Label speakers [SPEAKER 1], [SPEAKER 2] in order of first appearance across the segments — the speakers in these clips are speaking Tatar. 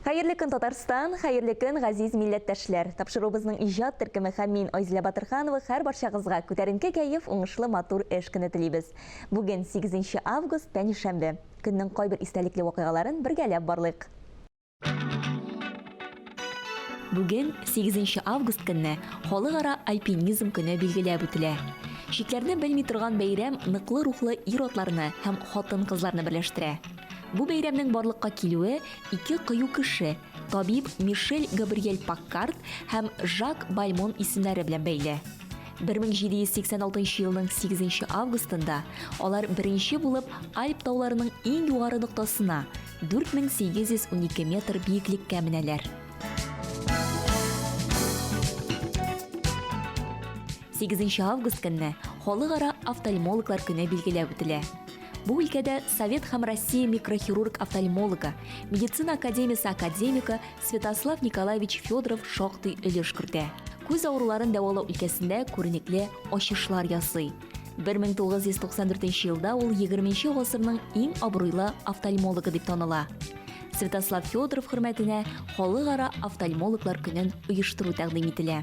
[SPEAKER 1] Хәерле көн Татарстан, хәерле көн газиз милләттәшләр. Тапшыруыбызның иҗат төркеме һәм мин Айзилә Батырханова һәр барчагызга күтәренке кәеф, уңышлы матур эш көне телибез. Бүген 8 август, пәнишәмбе. Көннең кайбер истәлекле вакыйгаларын бергәләп барлыйк. Бүген 8 август көнне халыкара альпинизм көне билгеләп үтелә. Чикләрне белми торган бәйрәм ныклы рухлы ир-атларны һәм хатын-кызларны берләштерә. Бу бәйрәмнең барлыкка килүе ике кыю кеше, табиб Мишель Габриэль Паккард һәм Жак Бальмон исемнәре белән бәйле. 1786 елның 8 августында алар беренче булып Альп тауларының иң югары ноктасына, 4812 метр биеклеккә менәләр. 8 август көнне Халыкара офтальмологлар көне билгеләп үтелә. Бу өлкәдә Совет һәм Россия микрохирург-офтальмологы, медицина академиясе академигы Святослав Николаевич Федоров шактый өлеш кертә. Күз авыруларын дәвалау өлкәсендә күренекле ачышлар ясый. 1994 елда ул 20 гасырның иң абруйлы офтальмологы дип таныла. Святослав Федоров хөрмәтенә халыкара офтальмологлар көнен оештыру тәкъдим ителә.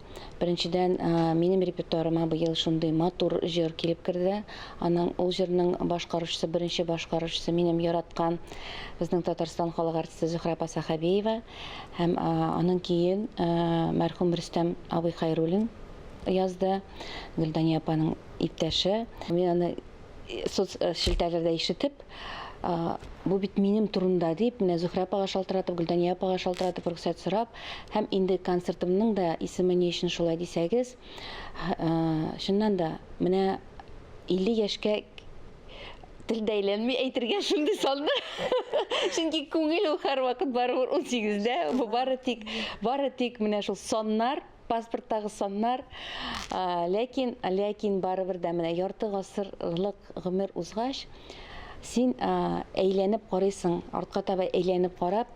[SPEAKER 2] Беренчедән, минем репертуарыма быел шундый матур җыр килеп керде. Аның ул җырның башкаручысы, беренче башкаручысы минем яраткан безнең Татарстан халык артисты Зөһрә Пасахабиева һәм аның киен мәрхүм Рөстәм абый Хайруллин язды. Гөлдания апаның иптәше. Мин аны Соц э, челтәрләрдә ишетеп, бу бит минем турында дип, менә Зөһрә апага шалтыратып, Гөлдания апага шалтыратып рөхсәт сорап, һәм инде концертымның да исеме ни өчен шулай дисәгез, чыннан да, менә 50 яшькә тел дәйләнми әйтергә шундый салды. Чөнки күңел ул һәрвакыт барыбер 18-дә, бу бары тик бары тик менә шул саннар паспорттагы саннар, ләкин, ләкин барыбер дә менә ярты гасырлык гомер узгач, син әйләнеп карыйсың, артка таба әйләнеп карап,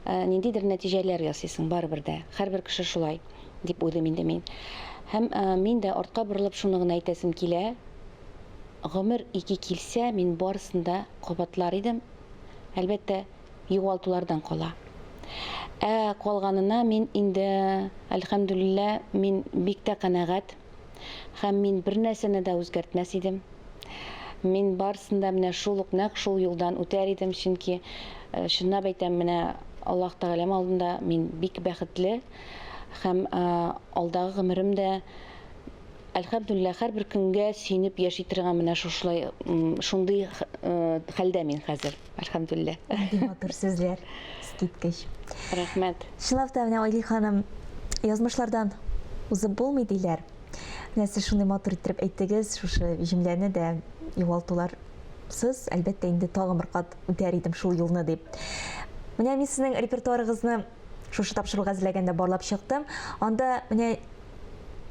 [SPEAKER 2] ниндидер нәтиҗәләр ясыйсың барыбер дә. Һәрбер кеше шулай, дип уйлыйм инде мин. Һәм мин дә артка борылып шуны гына әйтәсем килә. Гомер ике килсә, мин барысын да кабатлар идем. Әлбәттә, югалтулардан кала. Ә калганына мин инде, әлхәмдүлиллә, мин бик тә канәгать һәм мин бернәрсәне дә үзгәртмәс идем. Мин барысын да менә шул ук нәкъ шул юлдан үтәр идем, чөнки э, чынлап әйтәм, менә Аллаһ Тәгаләм алдында мин бик бәхетле һәм э, алдагы гомерем дә Әлхәмдүлилләһ, һәрбер көнгә сөенеп яши торган менә шушылай, шундый хәлдә мин хәзер, әлхәмдүлилләһ. Нинди матур сүзләр,
[SPEAKER 1] искиткеч. Рәхмәт.
[SPEAKER 2] Чынлап та, менә Айли
[SPEAKER 1] ханым, язмышлардан узып булмый диләр. Менә сез шундый матур иттереп әйттегез шушы җөмләне дә, югалтулар сыз, әлбәттә, инде тагын бер кат үтәр идем шул юлны, дип. Менә мин сезнең репертуарыгызны Шушы тапшыруга әзерләгәндә барлап чыктым. Анда менә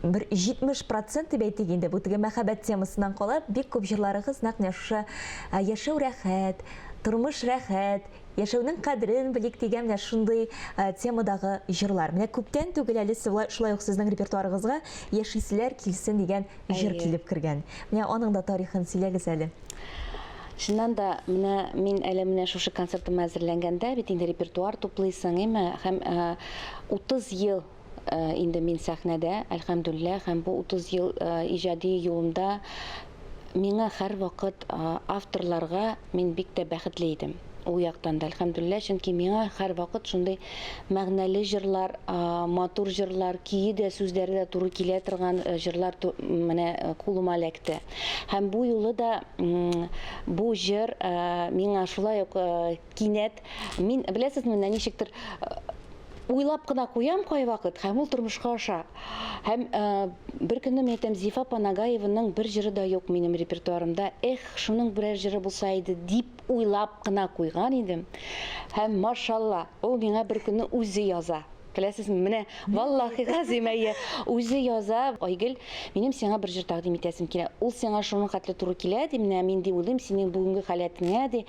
[SPEAKER 1] бер 70 процент дип әйтик инде, бу теге мәхәббәт темасыннан кала, бик күп җырларыгыз нәкъ менә шушы ә, яшәү рәхәт, тормыш рәхәт, яшәүнең кадерен белик дигән менә шундый ә, темадагы җырлар. Менә күптән түгел әле сулай- шулай ук сезнең репертуарыгызга Яшисләр килсен дигән җыр Әйе. килеп кергән. Менә аның да тарихын сөйләгез әле. Чыннан
[SPEAKER 2] да, менә мин әле менә шушы концертыма әзерләнгәндә, бит инде репертуар туплыйсың, әйме, һәм 30 э, ел э, инде мин сәхнәдә, әлхәмдүллә, һәм бу 30 ел э, иҗади юлымда миңа һәр вакыт авторларга мин бик тә бәхетле идем. Ул яктан да әлхәмдүлилләһ, чөнки миңа һәрвакыт шундый мәгънәле җырлар, матур җырлар, көе дә, сүзләре дә туры килә торган э, җырлар менә э, кулыма эләкте. Һәм бу юлы да бу җыр э, миңа шулай ук кинәт мин беләсез менә ничектер уйлап кына куям кайвакыт һәм ул тормышка аша. Һәм бер көнне мен әйтәм, Зифа Панагаеваның бер җыры да юк минем репертуарымда. Эх, шуның берәр җыры булса иде дип Уйлап кына куйган идем. Һәм машалла, ул миңа бер көнне үзе яза. Беләсезме, менә валлахи газимәйе үзе яза. Айгөл, минем сиңа бер җыр тәкъдим итәсем килә. Ул сиңа шуның хәтле туры килә, ди, менә мин ди уйлыйм синең бүгенге халәтеңә, ди.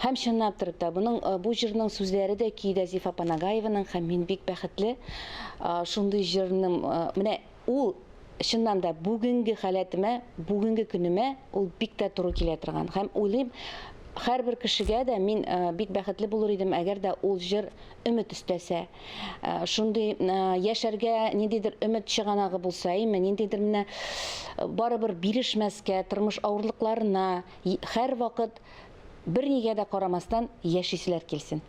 [SPEAKER 2] Һәм чынлап торып та, буның э, бу җырның сүзләре дә, көе дә Зифа Панагаеваның һәм мин бик бәхетле. Э, шундый җырны э, менә Ул, чыннан да, бүгенге халәтемә, бүгенге көнемә ул бик тә туры килә торган. Һәм уйлыйм, һәрбер кешегә дә мин бик бәхетле булыр идем, әгәр дә ул җыр өмет өстәсә. Шундый яшәргә ниндидер өмет чыганагы булса, әйме, ниндидер менә барыбер бирешмәскә, тормыш авырлыкларына һәрвакыт бернигә дә карамастан яшиселәр килсен.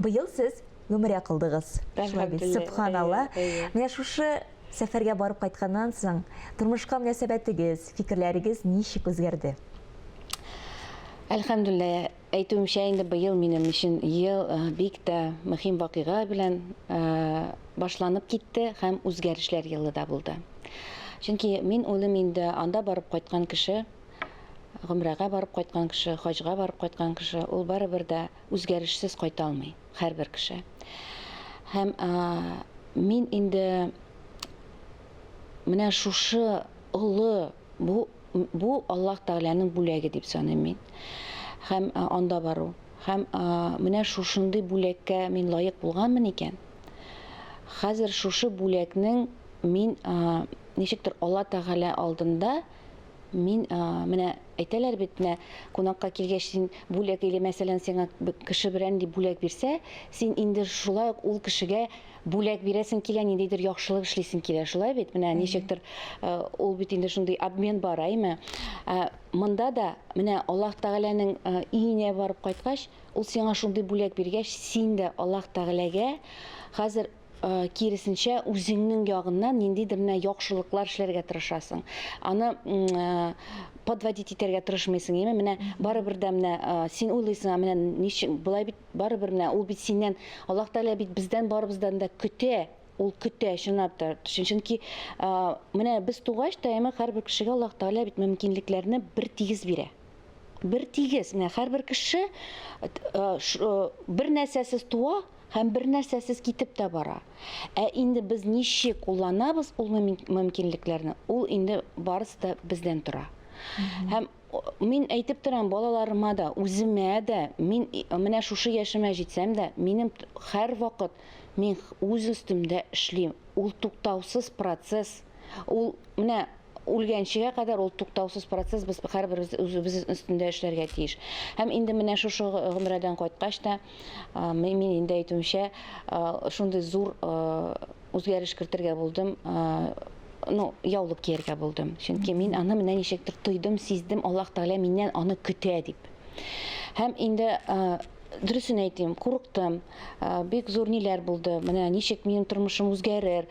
[SPEAKER 3] Быел
[SPEAKER 1] сез гөмрә кылдыгыз. Шулай бит, сөбханалла. Менә шушы сәфәргә барып кайтканнан соң, тормышка мөнәсәбәтегез, фикерләрегез ничек үзгәрде? Әлхәмдүлиллә,
[SPEAKER 2] әйтүемчә, инде быел минем өчен ел э, бик тә мөһим вакыйга белән э, башланып китте һәм үзгәрешләр елы да булды. Чөнки мин уйлыйм инде анда барып кайткан кеше, гомрәгә барып кайткан кеше, хаҗга барып кайткан кеше, ул барыбер дә Үзгәрешсез кайта алмый һәрбер кеше. Һәм мин инде менә шушы олы бу бу Аллаһ Тәгаләнең бүләге дип саныйм мин. Һәм анда бару. Һәм менә шушындый бүләккә мин лаек булганмын икән. Хәзер шушы бүләкнең мин ничектер Алла Тәгалә алдында Мин, менә әйтәләр бит, менә кунакка килгәч, син бүләк или мәсәлән, сиңа кеше берән ди бүләк бирсә, син инде шулай ук ул кешегә бүләк бирәсең килә, ниндидер яхшылык эшлисең килә, шулай бит? Менә ничектер ул бит инде шундый обмен бар, әйме? Монда да менә Аллаһ Тәгаләнең өенә барып кайткач, ул сиңа шундый бүләк биргәч, син дә Аллаһ Тәгаләгә хәзер киресенчә, үзеңнең ягыннан ниндидер менә яхшылыклар эшләргә тырышасың. Аны подводить итәргә тырышмыйсың, яме менә барыбер дә менә син уйлыйсың, менә ничек болай бит барыбер менә ул бит синнән Аллаһ Тәгалә бит бездән барыбыздан да көтә, ул көтә чынлап та. Чөнки менә без тугач та яме һәрбер кешегә Аллаһ Тәгалә бит мөмкинлекләрне бер тигез бирә. Бер тигез, менә һәрбер кеше бер нәрсәсез туа, Һәм бернәрсәсез китеп тә бара. Ә инде без ничек кулланабыз ул мөмкинлекләрне, ул инде барысы да бездән тора. Һәм мин әйтеп торам балаларыма да, үземә дә, мин менә шушы яшемә җитсәм дә, минем һәрвакыт мин үз өстемдә эшлим. Ул туктаусыз процесс. Ул менә үлгәнчегә кадәр ул туктаусыз процесс, без һәрберебез үзебез өстендә эшләргә тиеш. Һәм инде менә шушы гомрәдән кайткач та, Мин инде әйтүемчә, шундый зур үзгәреш кертергә булдым, ну, яулык кияргә булдым. Чөнки мин аны менә ничектер тойдым, сиздем, Аллаһ Тәгалә миннән аны көтә дип. Һәм инде дөресен әйтим, курыктым. Бик зур ниләр булды. Менә ничек минем тормышым үзгәрер,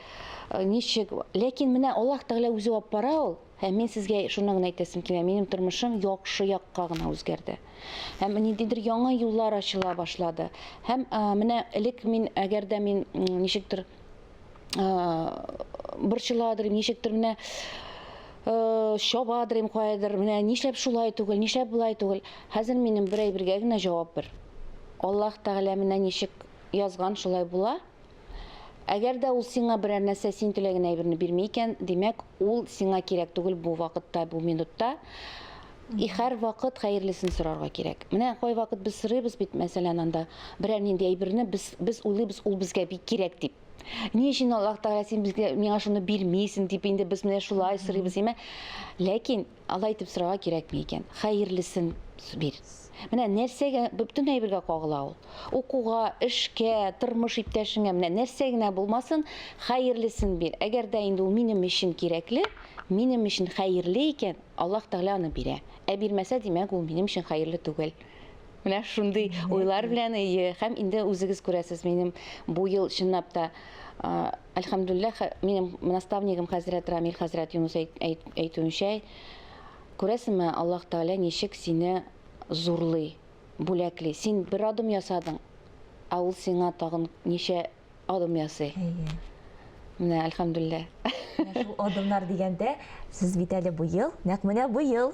[SPEAKER 2] ничек. Ләкин менә Аллаһ Тәгалә үзе алып бара ул. Һәм мин сезгә шуны гына әйтәсем килә, минем тормышым яхшы якка гына үзгәрде. Һәм ниндидер яңа юллар ачыла башлады. Һәм менә элек мин, әгәр дә мин ничектер борчыладыр, ничектер менә чабадыр инде каядыр, менә нишләп шулай түгел, нишләп болай түгел. Хәзер минем бер әйбергә генә җавап бер. Аллаһ Тәгалә менә ничек язган, шулай була. Әгәр дә ул сиңа берәр нәрсә син теләгән әйберне бирми икән, димәк, ул сиңа кирәк түгел бу вакытта, бу минутта. И хәр вакыт хәерлесен сорарга кирәк. Менә кай вакыт без сорыйбыз бит, мәсәлән, анда берәр нинди әйберне без без уйлыйбыз, ул безгә бик кирәк дип. Ни өчен Аллаһ Тәгалә син безгә миңа шуны бирмисең дип инде без менә шулай сорыйбыз, әмма ләкин Алай итеп сорарга кирәкми икән. Хәерлесен бир. Менә нәрсәгә бөтен әйбергә кагыла ул. Укуга, эшкә, тормыш иптәшеңә, менә нәрсә генә булмасын, хәерлесен бир. Әгәр дә инде ул минем өчен кирәкле, минем өчен хәерле икән, Аллаһ Тәгалә аны бирә. Ә бирмәсә, димәк, ул минем өчен хәерле түгел. Менә шундый уйлар белән, һәм инде үзегез күрәсез, минем бу ел чынлап та Әлхәмдүлләһ, хә- минем наставнигым хәзрәт Рамил хәзрәт Юнус әйт- әйт- әйтүенчә, күрәсеңме, Аллаһ Тәгалә ничек сине зурлый, бүләкли. Син бер адым ясадың, ә ул сиңа тагын ничә адым ясый. Әйе. Менә, әлхәмдүлләһ. Менә шул
[SPEAKER 1] адымнар дигәндә, сез бит әле быел, нәкъ менә быел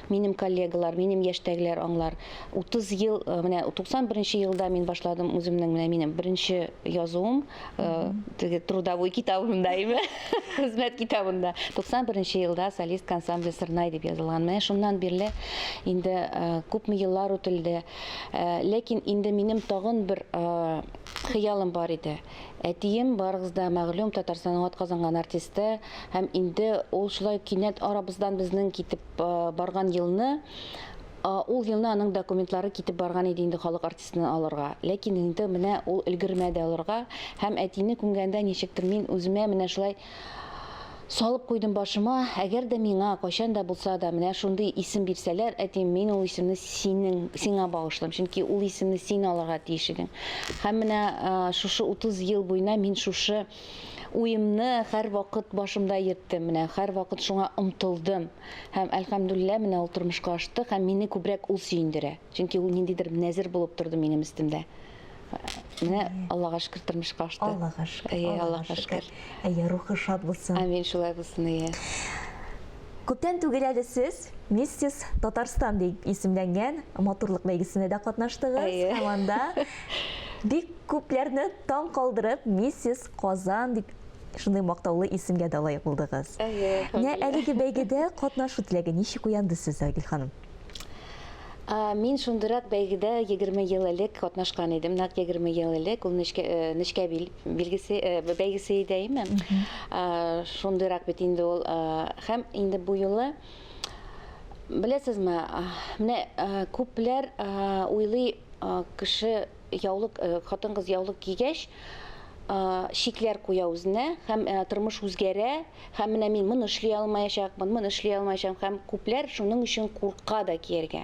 [SPEAKER 2] Минем коллегалар, минем яшьтәгеләр аңлар. 30 ел, э, менә 91 нче елда мин башладым үземнең менә минем беренче язуым, э, теге трудовой китабымда име, хезмәт китабында. 91 нче елда солист ансамбле Сырнай дип язылган. Менә шуннан бирле инде э, күпме еллар үтелде. Э, ләкин инде минем тагын бер э, хыялым бар иде. Әтием барыгыз да мәгълүм Татарстанның атказанган артисты һәм инде ул шулай кинәт арабыздан безнең китеп барган елны ул елны аның документлары китеп барган иде инде халык артистын алырга ләкин инде менә ул өлгермәде алырга һәм әтине күмгәндә ничектер мин үземә менә шулай салып куйдым башыма әгәр дә миңа кайчан да булса да менә шундый исем бирсәләр әти мин ул исемне синең сиңа багышлыйм чөнки ул исемне син алырга тиеш идең һәм менә шушы 30 ел буена мин шушы уемны һәрвакыт башымда йөрттем, менә һәрвакыт шуңа омтылдым. Һәм, әлхәмдүлилләһ, менә ул тормышка ашты һәм мине күбрәк ул сөендерә. Чөнки ул ниндидер нәзер булып торды минем өстемдә. Менә Аллага шөкер тормышка ашты. Аллага шөкер. Әйе,
[SPEAKER 1] Аллага шөкер.
[SPEAKER 2] Әйе, рухы шат
[SPEAKER 1] булсын. Амин, шулай булсын,
[SPEAKER 2] әйе.
[SPEAKER 1] Күптән түгел әле сез Миссис Татарстан дип исемләнгән матурлык бәйгесендә дә катнаштыгыз һәм анда бик күпләрне таң калдырып, Миссис Казан дип шундый мактаулы исемгә дә лаек булдыгыз. Әйе, әлеге бәйгедә катнашу теләге ничек уянды сездә, Айгөл ханым?
[SPEAKER 2] Мин шундырак бәйгедә 20 ел элек катнашкан идем. Нәкъ 20 ел элек ул нечкә э, нечкә бил билгесе э, бәйгесе иде әйме? Шундырак бит инде ул һәм инде бу юлы беләсезме, менә күпләр уйлый кеше яулык э, хатын-кыз яулык кигәч, шикләр куя үзенә һәм э, тормыш үзгәрә һәм менә мин моны эшли алмаячакмын моны эшли алмаячакмын һәм күпләр шуның өчен курка да кияргә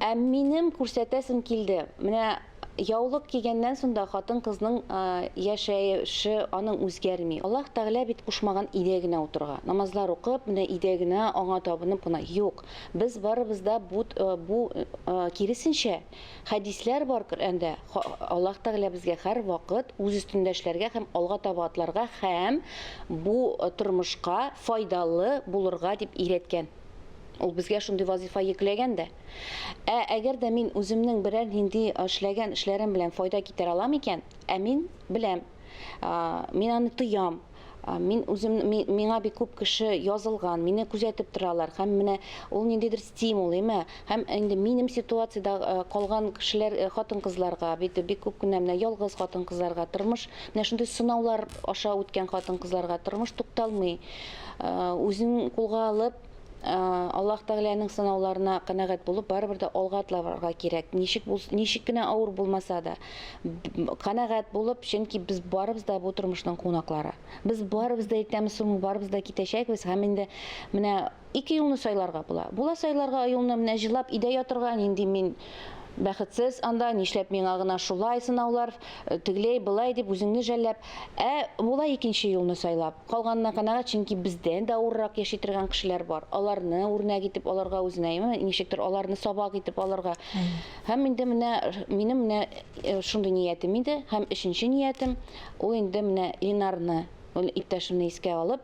[SPEAKER 2] ә минем күрсәтәсем килде менә яулык кигәннән соң да хатын кызның э, яшәеше аның үзгәрми аллаһ тәгалә бит кушмаган өйдә генә утырга намазлар укып менә өйдә генә аңа табынып кына юк без барыбыз да бу, э, бу киресенчә Хәдисләр бар Коръәндә, Аллаһ Тәгалә безгә һәрвакыт үз өстендә эшләргә һәм алга таба атларга һәм бу тормышка файдалы булырга дип өйрәткән. Ул безгә шундый вазифа йөкләгән дә. Ә әгәр дә мин үземнең берәр нинди эшләгән эшләрем белән файда китерә алам икән, ә мин беләм, мин аны тоям, Мин үзем миңа бик күп кеше язылган, мине күзәтеп торалар һәм менә ул ниндидер стимул, әйме? Һәм инде минем ситуациядә калган кешеләр, хатын-кызларга, бит бик күп кенә менә ялгыз хатын-кызларга тормыш, менә шундый сынаулар аша үткән хатын-кызларга тормыш тукталмый. Үзен кулга алып, Аллаһ Тәгаләнең сынауларына канәгать булып, барыбер дә алга атларга кирәк. Ничек булс, ничек кенә авыр булмаса да, канәгать булып, чөнки без барыбыз да бу тормышның кунаклары. Без барыбыз да иртәме соңмы барыбыз да китәчәкбез һәм инде менә ике юлны сайларга була. Була сайларга юлны менә җылап идә ятырга, нинди мин Бәхетсез анда, нишләп миңа гына шулай сынаулар, тегеләй, былай дип үзеңне жәлләп, ә болай икенче юлны сайлап, калганына канәгать, чөнки бездән дә авыррак яши торган кешеләр бар, аларны үрнәк итеп алырга үзенә, ничектер аларны сабак итеп алырга. Һәм инде менә минем менә шундый ниятем иде, һәм өченче ниятем, ул инде менә Ленарны, ул иптәшемне искә алып,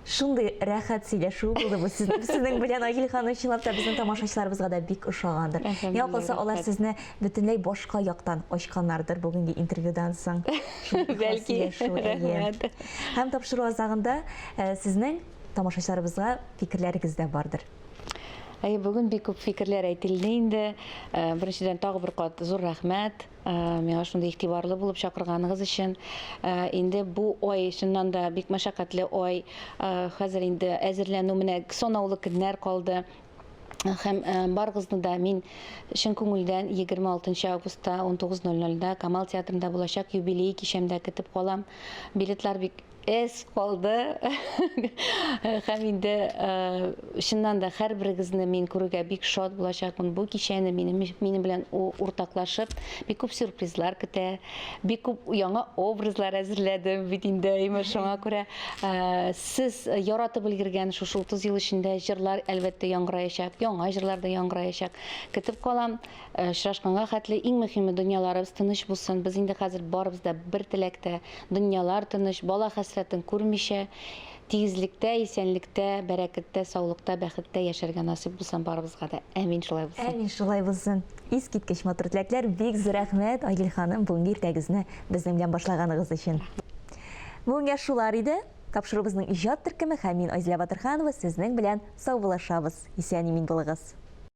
[SPEAKER 1] Шундый рәхәт сөйләшү булды бу сезнең белән Айгөл ханым чынлап та безнең тамашачыларыбызга да бик ошагандыр. Миңа калса алар сезне бөтенләй башка яктан ачканнардыр бүгенге интервьюдан соң. Бәлки.
[SPEAKER 2] Рәхмәт. Һәм тапшыру
[SPEAKER 1] азагында э, сезнең тамашачыларыбызга фикерләрегез дә бардыр. Әй, бүген
[SPEAKER 2] бик күп фикерләр әйтелде инде. Э, беренчедән тагы бер кат зур рәхмәт. Миңа шундый игътибарлы булып чакырганыгыз өчен. Инде бу ай чыннан да бик мәшәкатьле ай. Хәзер инде әзерләнү менә санаулы көннәр калды. Һәм барыгызны да мин чын күңелдән 26 августта 19:00-да Камал театрында булачак юбилей кичәмдә көтеп калам. Билетлар бик Эз калды һәм инде чыннан да һәрберегезне мин күрергә бик шат булачакмын. Бу кичәне минем минем белән уртаклашып, бик күп сюрпризлар көтә, бик күп яңа образлар әзерләдем бит инде, әйме шуңа күрә сез яратып өлгергән шушы 30 ел эчендә җырлар әлбәттә яңгыраячак, яңа җырлар да яңгыраячак. Көтеп калам. Э, очрашканга хәтле иң мөһиме дөньяларыбыз тыныч булсын без инде хәзер барыбыз да бер теләктә дөньялар тыныч бала хәсрәтен күрмичә тигезлектә исәнлектә бәрәкәттә саулыкта бәхеттә яшәргә насыйп булсын барыбызга да әмин шулай булсын әмин шулай булсын
[SPEAKER 1] искиткеч матур теләкләр бик зур рәхмәт айгөл ханым бүгенге иртәгезне безнең белән башлаганыгыз өчен бүгенгә шулар иде тапшыруыбызның иҗат төркеме һәм мин айзилә батырханова сезнең белән саубуллашабыз исән имин булыгыз